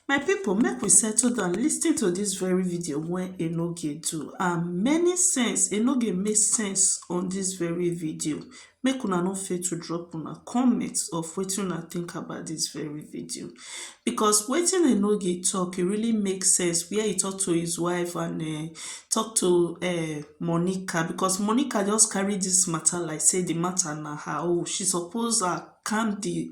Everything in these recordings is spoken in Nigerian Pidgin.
My pipu make we settle down lis ten to dis very video wey Enoge do and many sense Enoge make sense on dis very video make una no fail to drop una comment of wetin una think about dis very video because wetin Enoge talk e really make sense where he talk to his wife and um talk to um Monica because Monica just carry dis matter like sey de matter na her own she suppose um calm de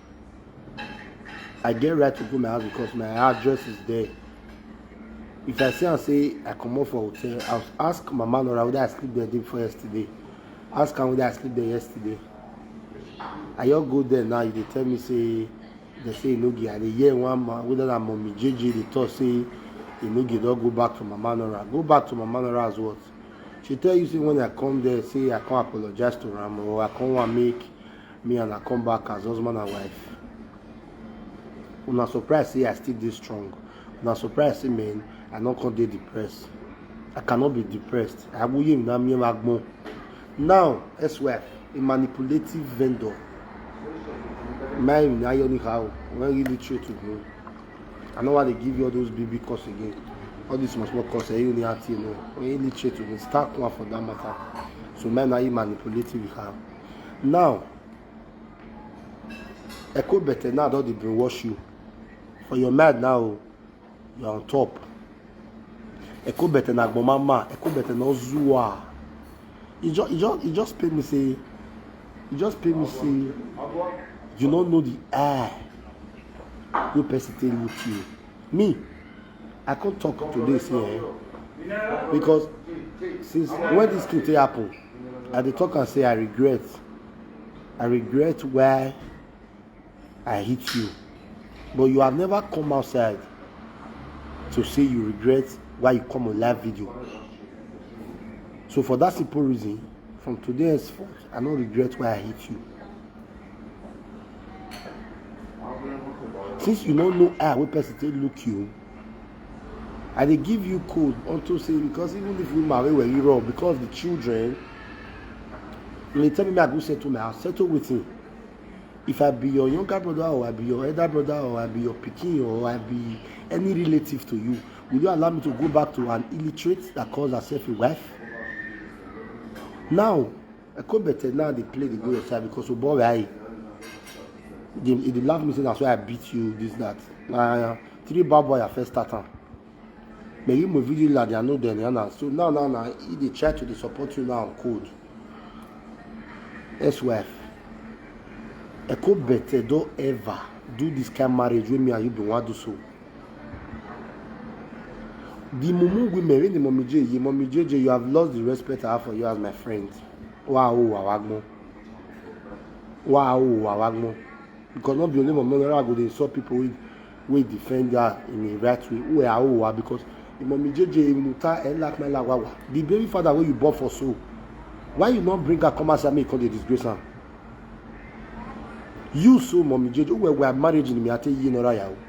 I get right to go my house because my address is there. If I see and say I come up for hotel, I'll ask my man or whether I sleep there day before yesterday. Ask am whether I sleep there yesterday. I just go there now, you dey tell me say they say e no get. I dey hear one man whether na mommy JJ dey talk say e no get don go back to mama Nora. Go back to mama Nora as what? She tell you say when I come there, say I come apologize to am or I come wan make me and her come back as husband and wife una surprise say i still dey strong una surprise say men i no come dey depressed i cannot be depressed awuye mi na mi ma gbọn now ex-wife a manipulative vendor marrying ayo anyhow when really true to me i no wan dey give you all those big big course again all these small small course eyi ni ati eno when really true to me start one for that matter so marrying ayo manipulative her. now echo better now don dey brainwash you for your mind now you are on top echo better na agbomama echo better na ozuwa e just e just e just pain me say e just pain me say you no know the air wey person take look you. me i come talk today say eh because since when this thing take happen i dey talk am say i regret i regret why i hit you but you have never come outside to say you regret why you come on live video so for that simple reason from today henceforth i no regret why i hit you since you no know eye wey person take look you i dey give you code unto say because even if you marry well you wrong because the children you dey tell me make i go settle my house settle wetin if i be your younger brother or i be your elder brother or i be your pikin or i be any relative to you will you allow me to go back to an illiterate that calls herself a wife now Ekobete now dey play dey go your side because obo were ayi. He dey he dey laugh me say na so I beat you this that. Na three bad boy I first start am. But you mo video la dia no dem na so now now na he dey try to dey support you now code. Ex-wife. Ekobete don ever do this kind marriage wey me and you bin wan do so. The mumu women, when the mommy J, you mommy JJ, you have lost the respect I have for you as my friend. Wow, wawagmo. Wow, wawagmo. Because not be only mommy, I go dey insult people wey wey defend her in a right way. Wey are owa because the mommy JJ muta elak my lawawa. The baby father wey you born for so, why you not bring her come outside make you come dey disgrace am? You so mommy JJ, wey were marriage in me, I tell you, you know,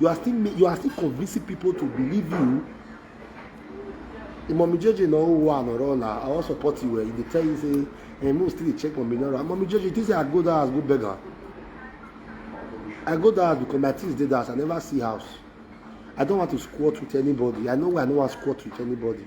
you are still you are still convincing people to believe you Mommy Jojo no one or all I wan support you well you dey tell you say eh make we still dey check Mommy Nora Mommy Jojo you think say I go that house go beg her I go that house because my things dey that house I never see house I don't want to squat with anybody I know why I no wan squat with anybody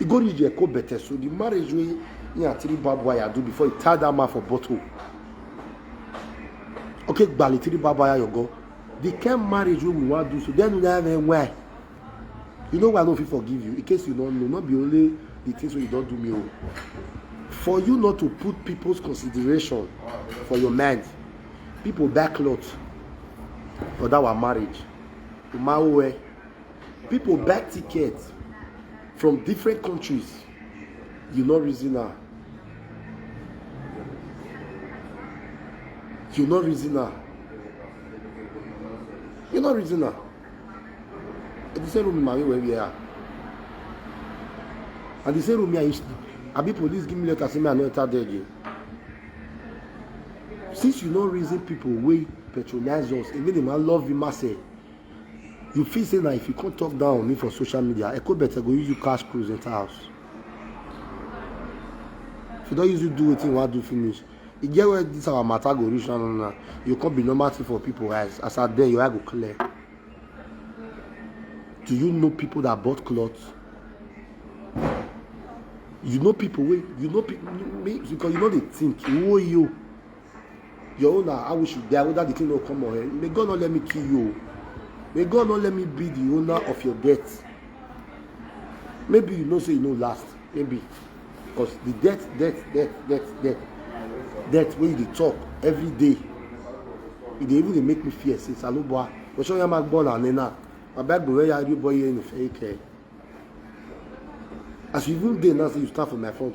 e go reach eko better so the marriage wey he and three barbed wire do before he tie that man for bottle okay gbali three barbed wire your go the kind marriage wey we wan do so then we have a why you know why i no fit forgive you in case you no know no be only the things wey you don do me o oh. for you not to put people's consideration for your mind people back lot for that one marriage umawe. people buy ticket from different countries you no reason am you no reason am you no reason am the same room marry where we are and the same room me i used to abi police give me letter say me i no enter there again since you no reason people wey patronize us emi dey ma love you ma say You feel say na if you come talk down on me for social media, Ekobete go use you cash cruise enter house. If you don use you do wetin you wan do finish, e get where this our matter go reach now now now. You come be normal thing for people eyes. As at then, your eye go clear. Do you know people that bought clothes? You know people wey you know people because you no dey think. Woyo. Your own na how we should die whether the thing no come or head. May God not let me kill you. May God not let me be the owner of your death. Maybe you know say you no last. Maybe because the death, death, death, death, death, death wey you dey talk every day. E dey even dey make me fear say Saloboa, Oṣoyan ya ma gbọ́ na nena, baba gbọ́ where ya rí boy here in Ifẹ̀ Ike. As you even dey now say you stand for my front,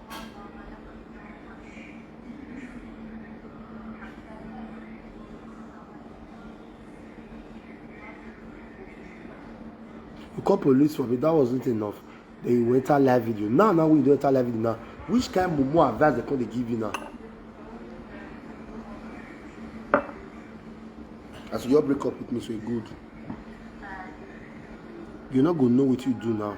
you call police for me that wasn't enough then you go enter live video now now when you don enter live video now which kind mumu advice dem come dey give you now as you just break up with me so e good you no go know wetin you do now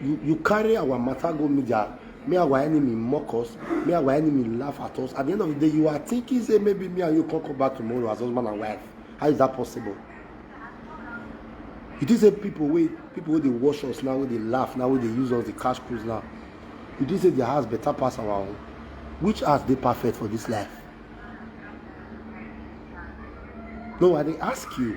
You, you carry our matter go media, me our enemy mock us, me our enemy laugh at us. At the end of the day, you are thinking, say, maybe me and you can come back tomorrow as husband and wife. How is that possible? You think say people wey people wey dey watch us now, wey dey laugh now, wey dey use us, dey cash cruise now. You think say their house better pass our own? Which house dey perfect for this life? No, I dey ask you.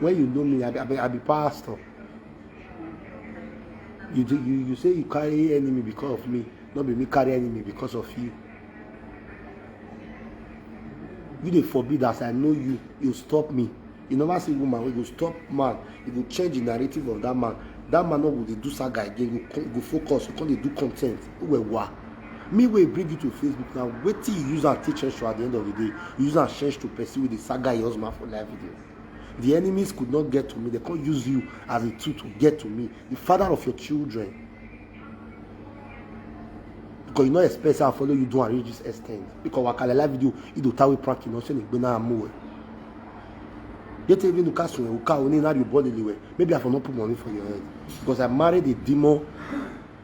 When you know me, I be, I be, I be pastor. You, do, you, you say you carry enemy because of me, not be me carry enemy because of you. You dey forbid as I know you, you stop me. You never see woman wey go stop man, you go change the narrative of that man. That man no go dey do saga again, you go, go focus, you come dey do content. Uwewa. Me wey bring you to Facebook now, wetin you use am take change to at the end of the day? You use am change to person wey dey saga your husband for live video. The enemies could not get to me. They can't use you as a tool to get to me. The father of your children. Because you know expect I follow you do and reach this extent. Because wakala live video, you do tawi prank you know say you na amu. Yet even the castle we uka only now you body anyway. Maybe I for not put money for your head. Because I married a demon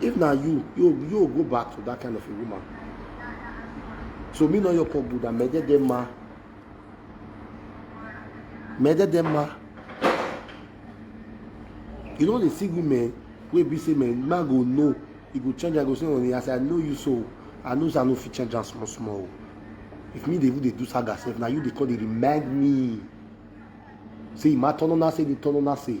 if na you you you go back to that kind of a woman so me no yọkọ buda mẹdẹdẹ ma mẹdẹdẹ ma you no dey see women wey be say men man go know e go change am go say honey as i know you so i know say i no fit change am small small o if me dey even dey do saga sef na you dey come dey remind me say ima turn on na say dey turn on na say.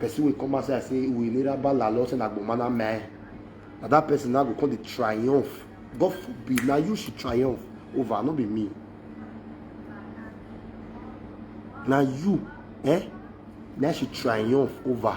person wey come outside say we nira bala lọ say na gbomana mẹ na that person now go come dey triumph god forbid na you she triumph over no be me na you eh na she triumph over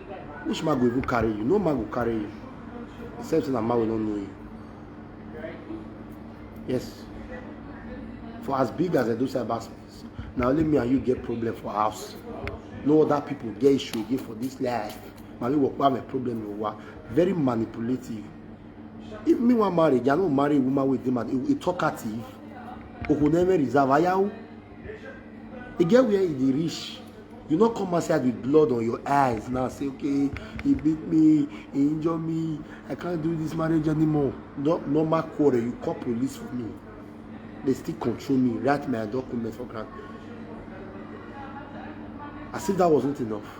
which man go even carry you no man go carry you except say na man wey no know you yes for as big as edo cyber space na only me and you get problem for house no other people get issue again for this life mami wokpa my problem no wa very manipulative if me wan marry i no marry woman wey dey mad e talkative okuneme reserve ayawo e get where e dey reach you no come outside with blood on your eyes now say okay he beat me he injure me i can't do this marriage anymore no normal quarrel you call police for me they still control me write my document for ground as if that wasn't enough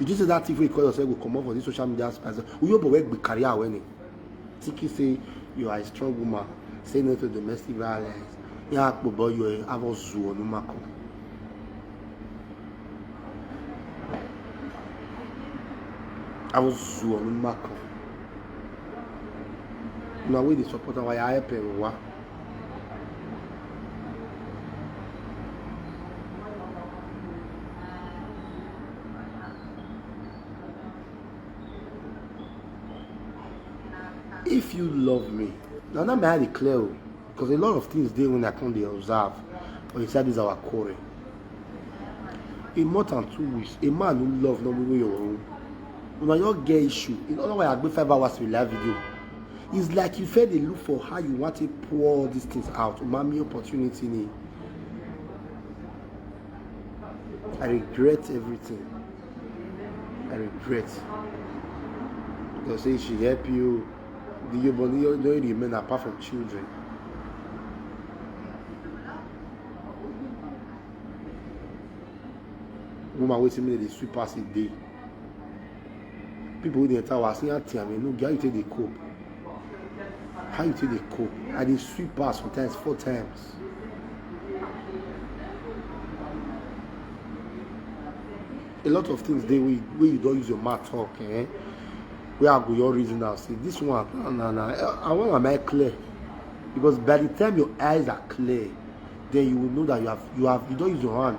you just say that thing wey you call yourself go comot for this social media space uyo bobo gbe career away ni tiki say you are a strong woman say no to domestic violence ya akpo boy you are avo zu onumako. avo zu onumako. una wey dey support am why i help am wa. if you love me now that may i declare o because a lot of things dey when i come dey observe for inside this our quarrel a month and two weeks a man who love no be your own una just get issue in other words i gbe five hours to live video It's like you fair dey look for how you want to pour all these things out. Umami opportunity ni. I regret everything. I regret. Because say she help you. The your body don't remain apart from children. Woman waiting me they sweep pass a day. people wey dey enter our say aunty ami no how you take dey cope how you take dey cope i dey sweep her sometimes four times a lot of things dey wey wey you don use your mouth talk eh wey i go your reason now say this one na na na i want am eye clear because by the time your eyes are clear then you will know that you have you have you don use your hand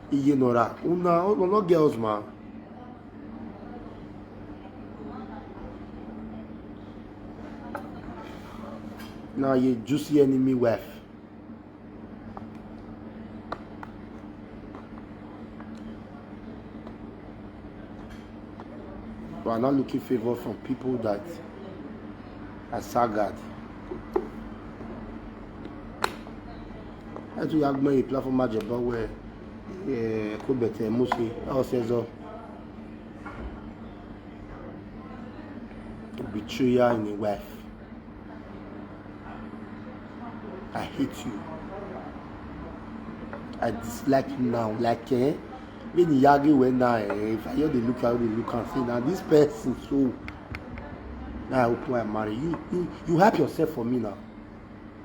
iye nora una oh, no no girls ma na ye juicy enemy wife we are not looking favor from people that are sagged etu ya gbọn yi platform ma jẹ bọ wẹ ko bẹtẹ mose ọsẹ zọ betrayer in a wife i hate you i dislike you now like eh when you yagi well now eh if i hear the look how they look am say na this person so na i hope i marry you you you help yourself for me now.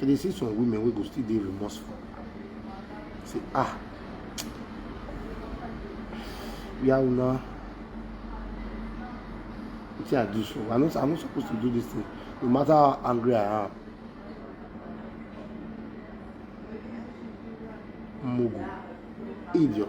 I dey see some women wey go still dey remorseful. Say ah, where una wetin I do so? I no I no suppose to do this thing. No matter how angry I am, mugu, idiot.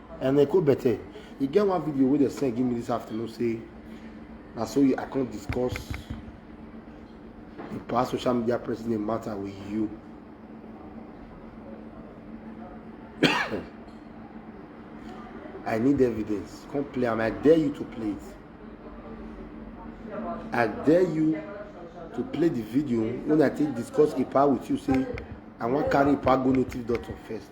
and they go better e get one video wey dem send give me this afternoon say na so i come discuss the past social media president matter with you i need evidence come play am i dare you to play it i dare you to play the video when i take discuss ipa with you say i wan carry ipa go native doctor first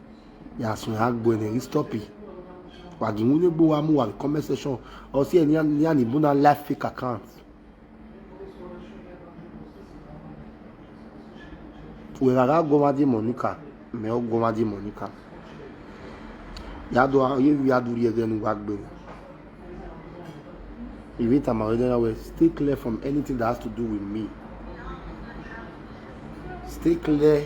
ya so ya gbo ne stop it wa gi mu ne gbo wa mu wa comment section o si eni ni ani bu na live fake account we rara go ma di monica me o go ma di monica ya do ye ya do ye genu wa gbo If it am already well, stay clear from anything that has to do with me. Stay clear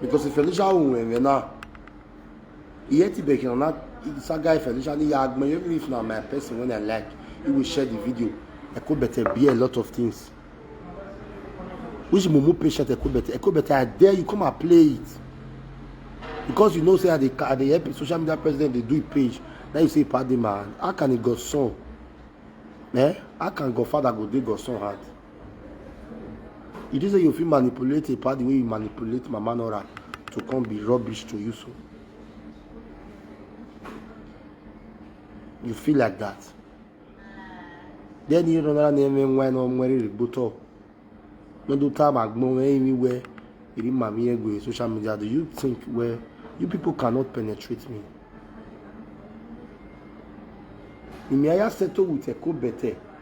because Felicia won and then now he had to beg na isa guy Felicia ni ya agbe even if na my person when I like he will share the video I could better be a lot of things which mumu patient I could better I could better I dare you come and play it because you know say I dey I dey help social media president dey do it page now you say padi man how can he go son eh how can godfather go dey go son heart. You just say you fit manipulate a party wey you manipulate Mama Nora to come be rubbish to you so. You feel like that. Then you run around and when wine or nwere riboto. No do time agbon anywhere. You didn't mami egwe social media. Do you think where you people cannot penetrate me? Imiaya settle with Eko better.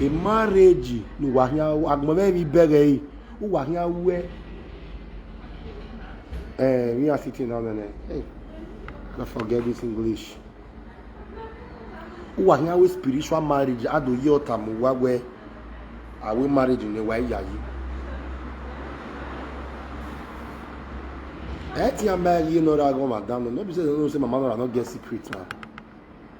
ema re ji nu wa hia agbon ve vi bẹghẹ yi u wa hia wẹ ẹ mi a sitting down nẹnẹ hey na forget this english u wa hia wẹ spiritual marriage ado yi ọta mu wa wẹ awe marriage ne wa iya yi ẹ ti a mẹ yi nọ ra gan madam no be say no say mama nọ ra no get secret na.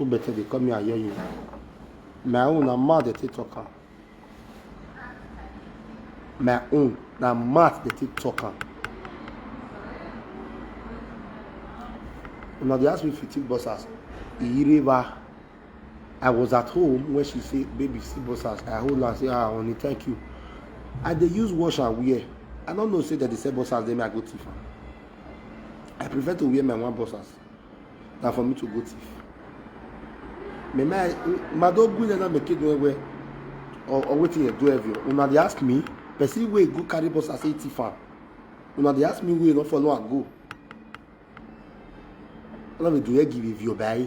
Come better dey call me Ayoyo. My own na mouth dey take talk am. My own na mouth dey take talk am. Una dey ask me if you take boxers. Iyireba. I was at home when she say, baby, see boxers. I hold her and say, ah, honey, thank you. I dey use wash and wear. I no know say dem dey sell boxers, then me I go thief am. I prefer to wear my one boxers than for me to go thief. Me my mado good na make it well well or or wetin you do every una dey ask me person wey go carry boxers say thief am una dey ask me wey no follow am go una dey do here give if you buy.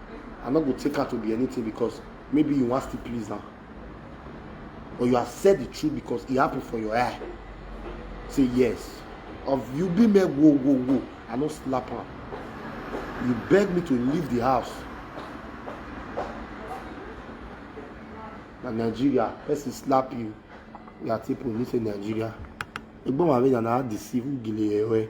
I no go take her to be anything because maybe you wan still please am. But you accept the truth because e happen for your eye. Say yes. Of you be me wo wo wo, I no slap am. You beg me to leave the house. Na Nigeria, person slap you, you are take police in Nigeria. Egbon wa be na na deceive gile ewe.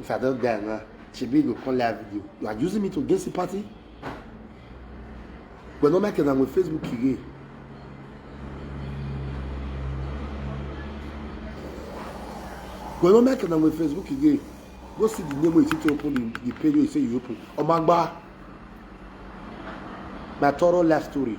if i don die now shebi you go come live video you are using me to against the party but no make am with facebook again. but no make am with facebook again go see the name wey you see to open the the page wey you say you open omagba my thorough life story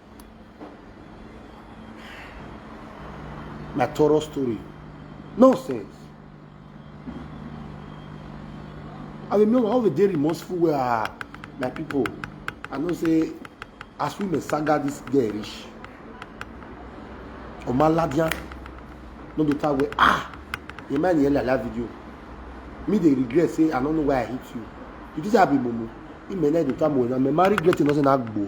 na thorough story nonsense i dey know how we dey remorseful wey ah my people i know say as women saga this girl reach omaladian no be time wey ah the man yẹn like that video me dey regret say i no know why i hit you you think say i be mumu imele dey tell me na me ma regret you no say na gbo.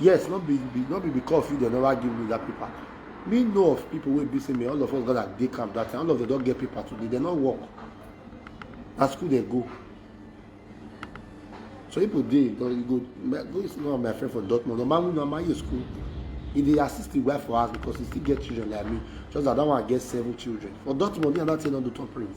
yes no be be no be because of you dem never give me that paper me know of people wey be say me all of us gather dey camp that time all of them don get paper today dem no work na school dem go so people dey you go go see one of my friend for dortmund normal wey normal year school he dey assist him wife for house because he still get children like me just that that one get seven children for dortmund me and that thing no do top print.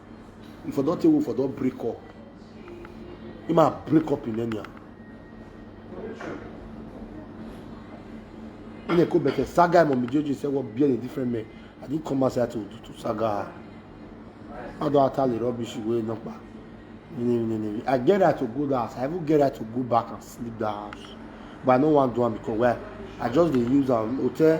if i don tell you for don break up you ma break up in enya ina ko bẹtẹ saga imo mi jojo say wọ́n bí ẹni different men i didn't come outside to to saga how do i tell the rubbish wey no pa i get right to go that house i even get right to go back and sleep that house but i no wan do am because why i just dey use am hotel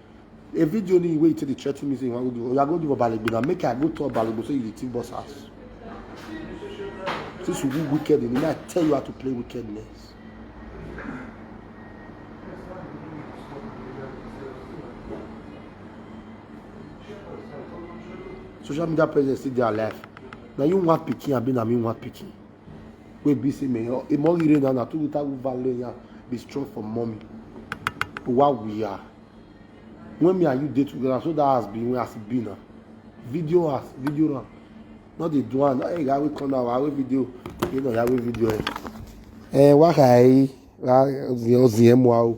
A video ni wey you take dey threaten me say you wan go give, oya go give Obalegbe na make I go tell Obalegbe say you dey thief boss house. Since you do wicked in me, I tell you how to play wickedness. social media presence still dey alive na you wan pikin abi na me wan pikin wey be say me oh, e mo ire na na tu ta vale ya be strong for mommy wa we are when me and you dey together so that has been when as e be na video as video na no dey do am hey ya we come now wa we video you know ya we video eh eh wa kai ra zi o zi e mo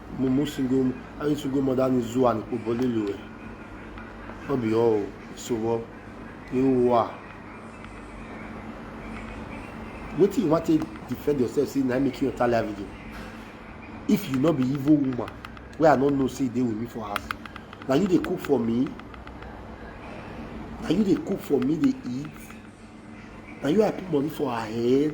mumusi ngo ayesu ngo mọda ni zu ani kpo bọle lu wẹ ọ bi ọ o so wọ ewu a wetin you wan take defend yourself say na make you enter live video if you no be evil woman wey i no know say dey with me for house na you dey cook for me na you dey cook for me dey eat na you i put money for her head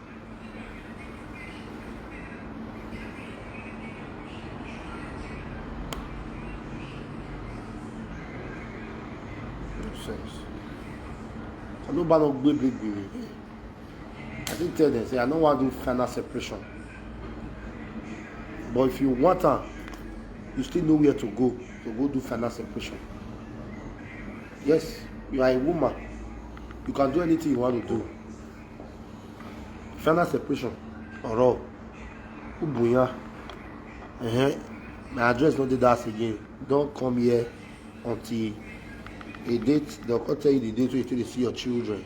I no ban no gbe big big. I still tell them say I no wan do final separation. But if you want am, you still know where to go to go do final separation. Yes, you are a woman. You can do anything you want to do. final separation ọ̀rọ̀ ubunya uh-huh. my address no dey that again don come here until a date dem come tell you the date wey you take dey see your children.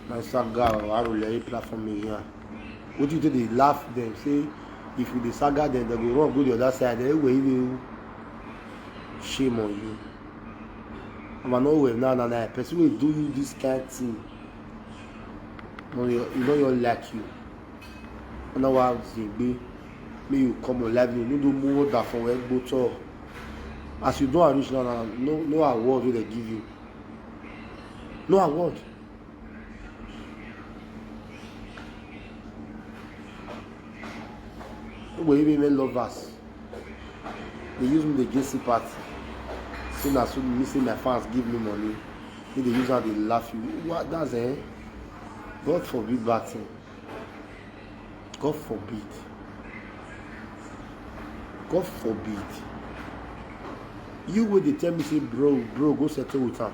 na saga or arulere platform me here wetin you take dey laugh dem say if you dey saga dem dem go run go the other side anyway you dey. shame on you and i no well now na na person wey do you this kind thing no your you no your like you and now i dey gbe make you come on live you no do more than for where go talk as you don reach now na no no award wey dem give you no award wey women lovers dey use me dey jesse party say na so me say my fans give me money me dey use am dey laugh you what that's eh god forbid bad thing god forbid god forbid you wey dey tell me say bro bro go settle with am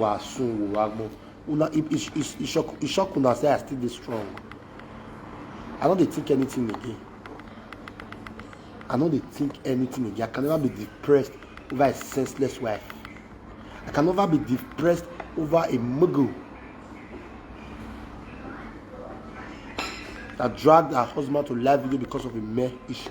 wàásù wò wá gbọ́ una e e e e shock e shock una say i still dey strong i no dey think anything again i no dey think anything again i can never be depressed over a senseless wife i can never be depressed over a muggle that dragged her husband to live video because of a mere issue.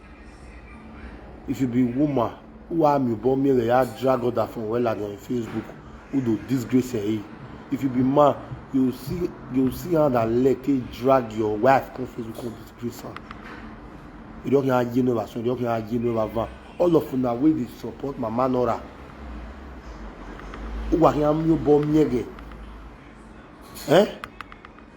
If you be woman who am you born me ya drag other from well on your Facebook who do disgrace eh. If you be man you see you see hand and leg take drag your wife come Facebook come disgrace am. You don hear aye no rasun, you don hear aye no ravan. All of una wey dey support Mama Nora who are here you born me eh.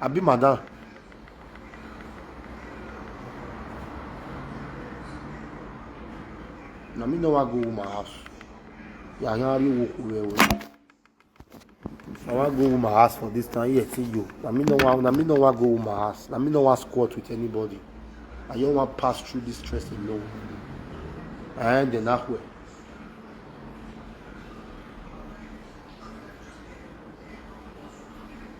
abi madam na me no wan go woman house yanyanri wo ko well well i wan go woman house for this time here till you na me no wan na me no wan go woman house na me no wan squat with anybody i just wan pass through this stress alone and then ahwe.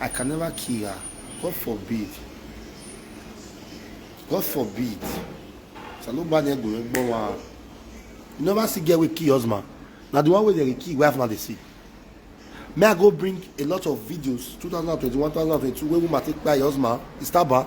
I can never kill her. God forbid. God forbid. Saloba ne go egbo wa. You never see girl wey kill husband. Na the one wey dey kill wife na dey see. May I go bring a lot of videos 2021, 2022 wey woman take kpai husband, Istaba.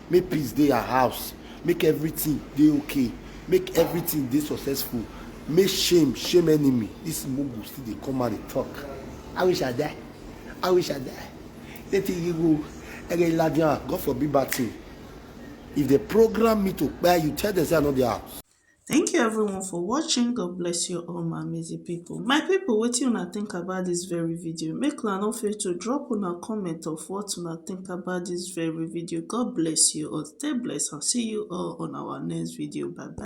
Make peace dey her house, make everything dey okay, make everything dey successful, make shame shame enemy, this mugu still dey come out dey talk. I wish I die, I wish I die, Native Igbo, Ege Iladiyan, God forbid bad thing. If dem program me to kpai you, tell dem say I no dey house. Thank you everyone for watching. God bless you all my amazing people. My people, wetin una think about this very video? Make una no fail to drop una comment of what una think about this very video. God bless you all. Stay blessed and see you all on our next video. Bye bye.